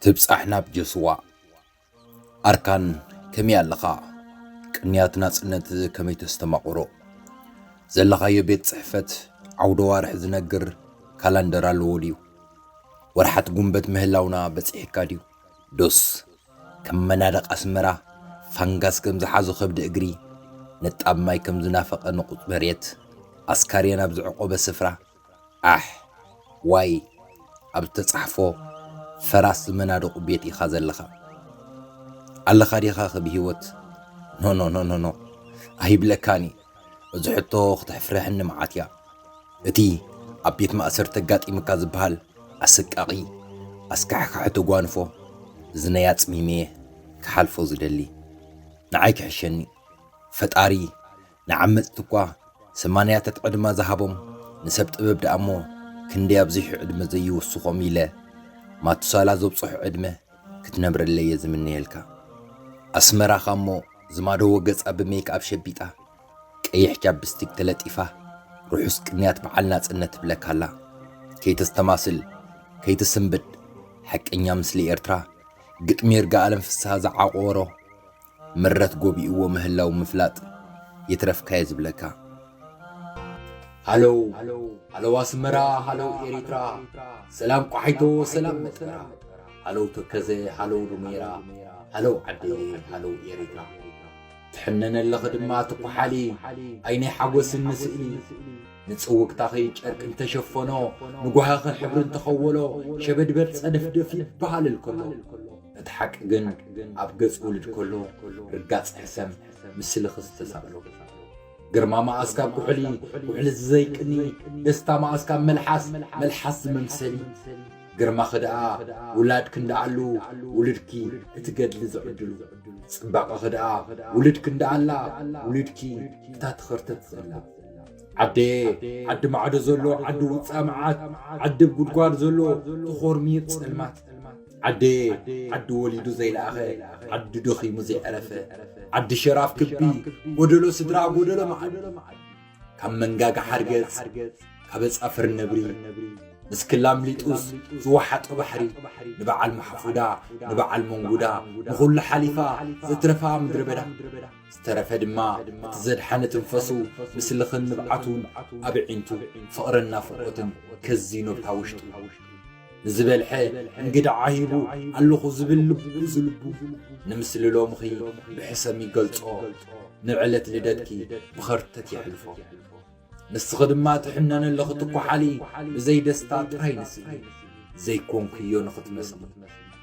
ትብጻሕ ናብ ጆስዋ። ኣርካን ከመይ ኣለኻ? ቅንያት ናጽነት ከመይ ተስተማቕሮ? ዘለኻዮ ቤት ጽሕፈት ዓውደ ዋርሕ ዝነግር ካላንደር ኣለዎ ድዩ? ወርሓት ጉንበት ምህላውና በጺሕካ ድዩ? ዶስ ከም መናድቕ ኣስመራ ፋንጋስ ከም ዝሓዞ ከብዲ እግሪ ንጣብ ማይ ከም ዝናፈቐ ንቑጽ መሬት ኣስካርየን ኣብ ዝዕቆበ ስፍራ ዓሕ ዋይ ኣብ ዝተጻሕፎ ፈራስ ዝመናደቁ ቤት ኢኻ ዘለኻ ኣለኻ ዲኻ ከ ብሂወት ኖኖኖኖኖ ኣይብለካን እዩ እዚ ሕቶ ክትሕፍረሕኒ መዓት እያ እቲ ኣብ ቤት ማእሰርቲ ኣጋጢምካ ዝበሃል ኣሰቃቒ ኣስካሕካሒ ተጓንፎ እዝነይ ኣጽሚመየ ክሓልፎ ዝደሊ ንዓይ ክሕሸኒ ፈጣሪ ንዓመጽቲ እኳ ሰማንያታት ዕድመ ዝሃቦም ንሰብ ጥበብ ደኣ እሞ ክንደይ ኣብዚሑ ዕድመ ዘይውስኾም ኢለ ማቱሳላ ዘብጽሖ ዕድመ ክትነብረለይ እየ ዝምነየልካ ኣስመራኻ እሞ ዝማደዎ ገጻ ብሜክኣብ ሸቢጣ ቀይሕ ቻፕስቲክ ተለጢፋ ርሑስ ቅንያት በዓል ናጽነት ትብለካ ኣላ ከይተስተማስል ከይትስንብድ ሓቀኛ ምስሊ ኤርትራ ግጥሚ ይርጋኣለም ፍስሃ ዝዓቖሮ ምረት ጎቢእዎ ምህላው ምፍላጥ ይትረፍካየ ዝብለካ። ሃሎው ሃሎው ኣስመራ ሃሎው ኤሪትራ ሰላም ቋሒቶ ሰላም መጥፈራ ሃሎው ተከዘ ሃሎው ዱሜራ ሃሎው ዓደየ ሃሎው ኤሪትራ ትሕነነለኺ ድማ ትኳሓሊ ዓይነይ ሓጎስን ንስእሊ ንጽውግታኺ ጨርቂ እንተሸፈኖ ንጓህኺ ሕብሪ እንተኸወሎ ሸበድበድ ጸደፍደፍ ይበሃልል ከሎ እቲ ሓቂ ግን ኣብ ገጽ ውልድ ከሎ ርጋጽ ሕሰም ምስሊ ክዝተሳእሎ ግርማ መኣስ ካብ ኩሕሊ ኩሕሊ ዝዘይቅኒ ደስታ መኣስ ካብ መልሓስ መልሓስ ዝመምሰሊ ግርማ ክድኣ ውላድ ክንደኣሉ ውልድኪ እቲ ገድሊ ዝዕድሉ ጽባቐ ክድኣ ውልድ ክንደኣላ ውልድኪ እታ ትኸርተት ዘላ ዓደ ዓዲ ማዕዶ ዘሎ ዓዲ ውፃ መዓት ዓዲ ጉድጓድ ዘሎ ተኾርሚር ጸልማት ዓደየ ዓዲ ወሊዱ ዘይለኣኸ ዓዲ ደኺሙ ዘይዕረፈ ዓዲ ሸራፍ ክቢ ጎደሎ ስድራ ጎደሎ መዓዲ ካብ መንጋጋ ሓርገጽ ካብ ኣጻፍር ነብሪ ምስ ክላም ሊጡስ ዝወሓጦ ባሕሪ ንበዓል ማሕፉዳ ንበዓል መንጉዳ ንኹሉ ሓሊፋ ዘትረፋ ምድረ በዳ ዝተረፈ ድማ እቲ ዘድሓነ ትንፈሱ ምስልኽን ንብዓቱን ኣብ ዒንቱ ፍቕርን ናፍቖትን ከዚኖብታ ውሽጡ ንዝበልሐ እንግድዓ ሂቡ ኣለኹ ዝብል ልቡ ዝልቡ ንምስሊ ሎምኺ ብሕሰም ይገልጾ ንዕለት ልደትኪ ብኸርተት የሕልፎ ንስኺ ድማ ትሕነነ ኣለኺ ትኳሓሊ ብዘይ ደስታ ጥራይ ንስኢ ዘይኮንኩዮ ንኽትመስሊ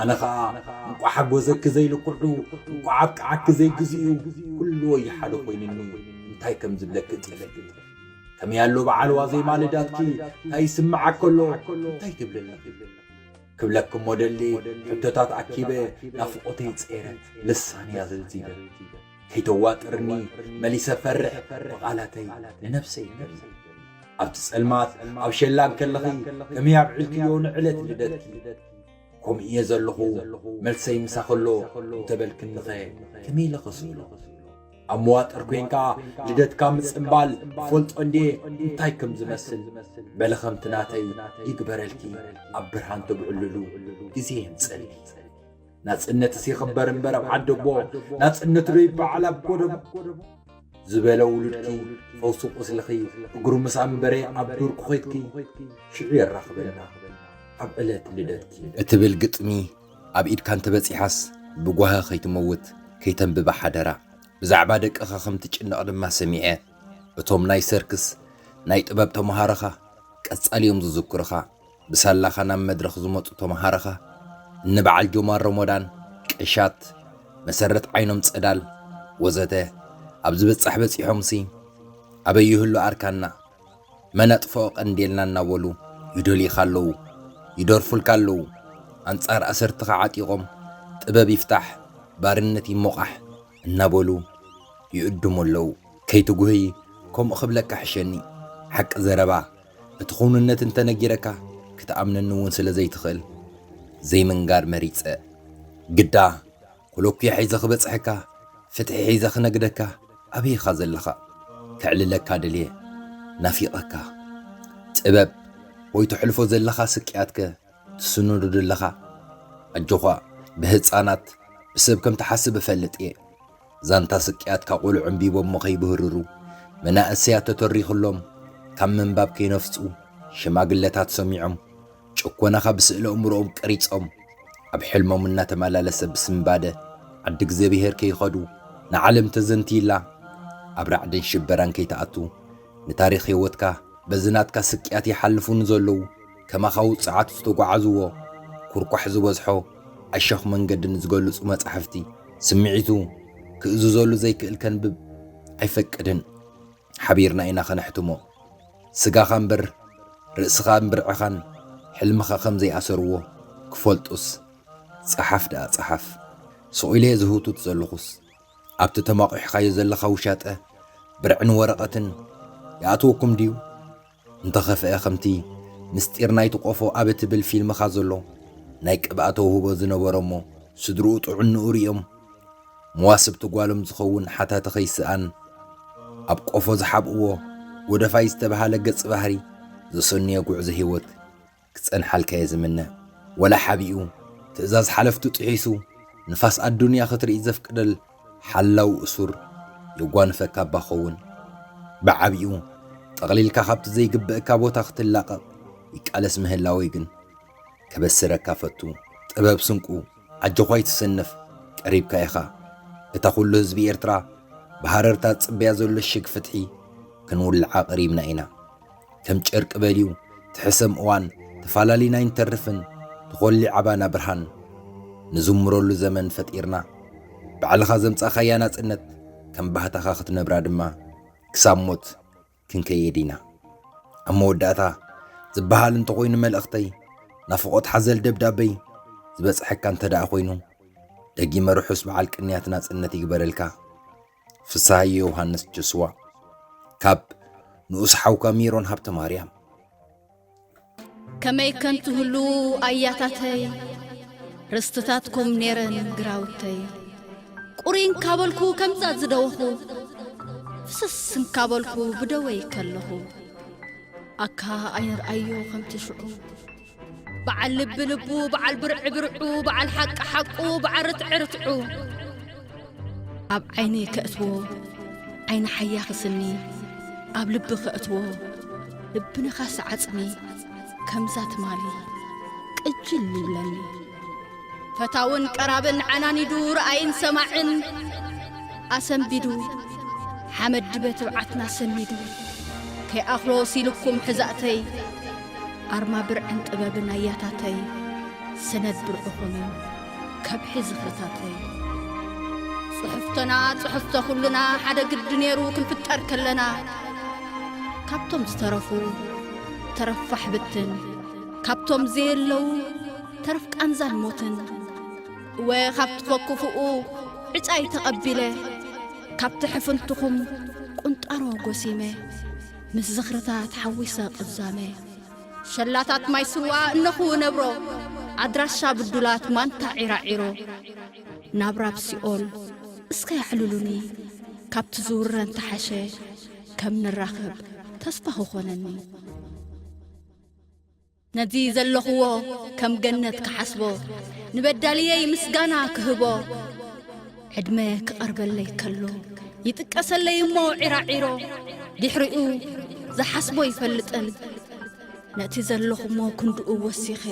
ኣነ ኸኣ እንቋዕ ሓጎሰኪ ዘይልክዑ እንቋዕ ኣብቅዓኪ ዘይግዝኡ ኩሉ ወይ ሓደ ኮይኑኒ እንታይ ከም ዝብለኪ ጥልፊ ከመይ ኣሎ በዓል ዋዜማ ልዳትኪ እንታይ ይስምዓኪ ኣሎ እንታይ ትብልኒ ክብለኪ እሞ ደሊ ሕቶታት ኣኪበ ናፍቖተይ ጸይረ ልሳን እያ ዘልዚበ ከይተዋጥርኒ መሊሰ ፈርሕ ብቓላተይ ንነፍሰይ ይገል ኣብቲ ጸልማት ኣብ ሸላን ከለኺ ከመይ ኣብዕልክዮ ንዕለት ልደትኪ ከምኡ እየ ዘለኹ፣ መልሰይ ምሳኸሎ እንተበልክኒኸ ከመይ ኢለ ኸስእሎ? ኣብ መዋጥር ኮይንካ ልደትካ ምጽምባል ፈልጦ እንዴ እንታይ ከም ዝመስል በለ ከምቲ ናተይ ይግበረልኪ ኣብ ብርሃን ትብዕልሉ ግዜ የምጽል ናጽነትስ ይኽበር እምበር ኣብ ዓደቦ ናጽነት ዶ ይበዓል ኣብ ጎደቦ ዝበለ ውሉድኪ ፈውሲ ቁስልኺ እግሩ ምስ ኣንበረ ኣብ ዱር ኩኼድኪ ሽዑ የራኽበና ኣብ ዕለት ልደትኪ እትብል ግጥሚ ኣብ ኢድካ እንተበጺሓስ ብጓሂ ከይትመውት ከይተንብባ ሓደራ። ብዛዕባ ደቅኻ ከም ትጭነቕ ድማ ሰሚዐ። እቶም ናይ ሰርክስ ናይ ጥበብ ተመሃሮኻ ቀጻሊ እዮም ዝዝክሩኻ። ብሳላኻ ናብ መድረኽ ዝመጹ ተመሃሮኻ እኒ በዓል ጆማር ሮሞዳን፣ ቀሻት፣ መሰረት ዓይኖም ጸዳል፣ ወዘተ ኣብ ዝበጻሕ በጺሖምሲ ኣበይ ይህሉ ኣርካና፣ መን ኣጥፍኦ ቀንዴልና እናበሉ ይደልዩኻ ኣለዉ፣ ይደርፉልካ ኣለዉ፣ ኣንጻር ኣሰርትኻ ዓጢቖም ጥበብ ይፍታሕ፣ ባርነት ይሞቓሕ እናበሉ ይእድሙ ኣለዉ። ከይትጉህይ ከምኡ ክብለካ ሕሸኒ፣ ሓቂ ዘረባ፣ እቲ ክውንነት እንተ ነጊረካ ክትኣምነኒ እውን ስለ ዘይትኽእል ዘይምንጋር መሪጸ። ግዳ ኮሎኲ ሒዘ ክበጽሐካ፣ ፍትሒ ሒዘ ክነግደካ ኣበይ ኢኻ ዘለኻ? ከዕልለካ ደልየ። ናፊቐካ። ጥበብ ወይ ተሕልፎ ዘለኻ ስቅያትከ? ትስንዱ ድለኻ ኣጆዃ ብህጻናት ብሰብ ከም ትሓስብ እፈልጥ እየ ዛንታ ስቅያትካ ቆልዑ ኣንቢቦሞ ከይብህርሩ መናእሰያት ተተሪኽሎም ካብ ምንባብ ከይነፍጹ ሽማግለታት ሰሚዖም ጭኮናኻ ብስእለ ኣእምሮኦም ቀሪጾም ኣብ ሕልሞም እናተመላለሰ ብስንባደ ዓዲ እግዚኣብሄር ከይኸዱ ንዓለም ተዘንትይላ ኣብ ራዕድን ሽበራን ከይትኣቱ ንታሪኽ ህይወትካ በዚ ናትካ ስቅያት ይሓልፉ ንዘለዉ ከማኻ ውጹዓት ዝተጓዓዝዎ ኩርኳሕ ዝበዝሖ ኣሸኽ መንገዲ ንዝገልጹ መጻሕፍቲ ስምዒቱ ክእዝዘሉ ዘይክእል ከንብብ ኣይፈቅድን። ሓቢርና ኢና ከነሕትሞ። ስጋኻ እምበር ርእስኻን ብርዕኻን ሕልምኻ ከም ዘይኣሰርዎ ክፈልጡስ ጸሓፍ ደኣ ጸሓፍ። ስቕ ኢለ'የ ዝህውትት ዘለኹስ ኣብቲ ተማቝሕካዮ ዘለኻ ውሻጠ ብርዕን ወረቐትን ይኣትወኩም ድዩ? እንተኸፍኤ ከምቲ ምስጢር ናይቲ ቆፎ ኣብ እትብል ፊልምኻ ዘሎ ናይ ቅብኣ ተውህቦ ዝነበሮ እሞ ስድርኡ ጥዕንኡ ሪኦም መዋስብቲ ጓሎም ዝኸውን ሓታቲ ከይስኣን ኣብ ቆፎ ዝሓብእዎ ጎደፋይ ዝተብሃለ ገጽ ባህሪ ዘሰኑየ ጉዕዞ ሂወት ክጸንሓልካ'የ ዝምነ። ወላ ሓቢኡ፣ ትእዛዝ ሓለፍቱ ጥሒሱ፣ ንፋስ ኣዱንያ ክትርኢ ዘፍቅደል ሓላው እሱር የጓንፈካ'ባ ክኸውን። ብዓቢኡ፣ ጠቕሊልካ ካብቲ ዘይግበእካ ቦታ ክትላቐቕ ይቃለስ ምህላወይ ግን፣ ከበስረካ እፈቱ። ጥበብ ስንቁ፣ ኣጆኹ ኣይትሰነፍ፣ ቀሪብካ ኢኻ። እታ ኩሉ ህዝቢ ኤርትራ ብሃረርታ ዝጽበያ ዘሎ ሽግ ፍትሒ ክንውልዓ ቀሪብና ኢና። ከም ጨርቂ በልዩ ትሕሰም እዋን ተፋላሊና ኣይንተርፍን ትኾሊ ዓባና ብርሃን ንዝምረሉ ዘመን ፈጢርና ባዕልኻ ዘምጻኻያ ናጽነት ከም ባህታኻ ክትነብራ ድማ ክሳብ ሞት ክንከየድ ኢና ኣብ መወዳእታ ዝበሃል እንተኾይኑ መልእኽተይ ናፍቖት ሓዘል ደብዳበይ ዝበጽሐካ እንተደኣ ኮይኑ ደጊመ ርሑስ በዓል ቅንያት ናጽነት ይግበረልካ ፍስሃየ ዮሃንስ ጆስዋ ካብ ንኡስ ሓውካ ሜሮን ሃብተ ማርያም ከመይ ከም ትህልዉ ኣያታተይ ርስትታትኩም ኔረን ግራውተይ ቁሪን ካበልኩ ከምዛ ዝደወኹ ፍስስ እንካበልኩ ብደወይ ከለኹ ኣካ ኣይንርኣዮ ከምቲ ሽዑ በዓል ልቢ ልቡ በዓል ብርዒ ብርዑ በዓል ሓቂ ሓቁ በዓል ርትዒ ርትዑ ኣብ ዓይኒ ከእትዎ ዓይኒ ሓያ ኽስኒ ኣብ ልቢ ኸእትዎ ልቢ ነኻሲ ዓጽሚ ከምዛ ትማሊ ቅጅል ይብለኒ ፈታውን ቀራብን ዓናኒዱ ረኣይን ሰማዕን ኣሰንቢዱ ሓመድ ድበ ትብዓትና ሰኒዱ ከይኣኽሎ ሲልኩም ሕዛእተይ ኣርማ ብርዕን ጥበብን ኣያታተይ ሰነድ ብርዕኹም ከብሒ ዝኽርታተይ ጽሑፍቶና ጽሑፍቶ ኹሉና ሓደ ግዲ ነይሩ ክንፍጠር ከለና ካብቶም ዝተረፉ ተረፋሕ ብትን ካብቶም ዘየለዉ ተርፍ ቃንዛን ሞትን እወ ካብ ትፈኩፍኡ ዕጫይ ተቐቢለ ካብቲ ሕፍንትኹም ቁንጣሮ ጎሲመ ምስ ዝኽርታት ሓዊሰ ቅዛመ ሸላታት ማይ ስዋ እነኹ ነብሮ ኣድራሻ ብዱላት ማንታ ዒራዒሮ ናብራ ብሲኦል እስከ ኣዕልሉኒ ካብቲ ዝውረ እንተሓሸ ከም ንራኸብ ተስፋ ክኾነኒ ነዚ ዘለኹዎ ከም ገነት ክሓስቦ ንበዳልየይ ምስጋና ክህቦ ዕድመ ክቐርበለይ ከሎ ይጥቀሰለይ እሞ ዒራዒሮ ድሕሪኡ ዝሓስቦ ይፈልጥን ነቲ ዘለኹሞ ክንድኡ ወሲኸ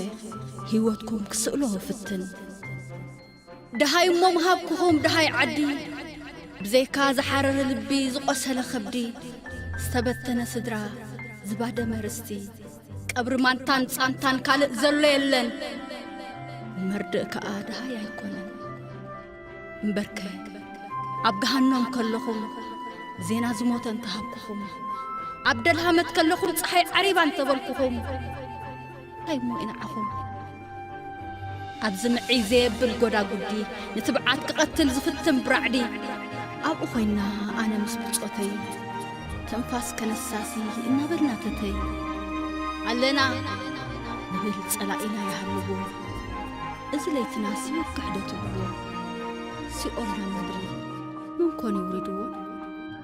ህይወትኩም ክስእሎ ፍትን ደሃይ እሞ ምሃብኩኹም ደሃይ ዓዲ ብዘይካ ዝሓረረ ልቢ ዝቖሰለ ኸብዲ ዝተበተነ ስድራ ዝባደመ ርስቲ ቀብሪ ማንታን ጻንታን ካልእ ዘሎ የለን መርድእ ከኣ ደሃይ ኣይኮነን እምበርከ ኣብ ገሃኖም ከለኹም ዜና ዝሞተ እንተሃብኩኹም ኣብ ደልሃመት ከለኹም ፀሓይ ዓሪባ እንተበልኩኹም እንታይ እሞ እዩ ንዓኹም ኣብዚ ምዕይ ዘየብል ጎዳጉዲ ንትብዓት ክቐትል ዝፍትን ብራዕዲ ኣብኡ ኮይና ኣነ ምስ ብጾተይ ትንፋስ ከነሳሲ እናበልና ተተይ ኣለና ንብል ጸላኢና ይሃልዎ እዚ ለይትና ሲወክሕ ዶ ትብልዎ ሲኦል ናብ ምድሪ ምንኮን ይውርድዎ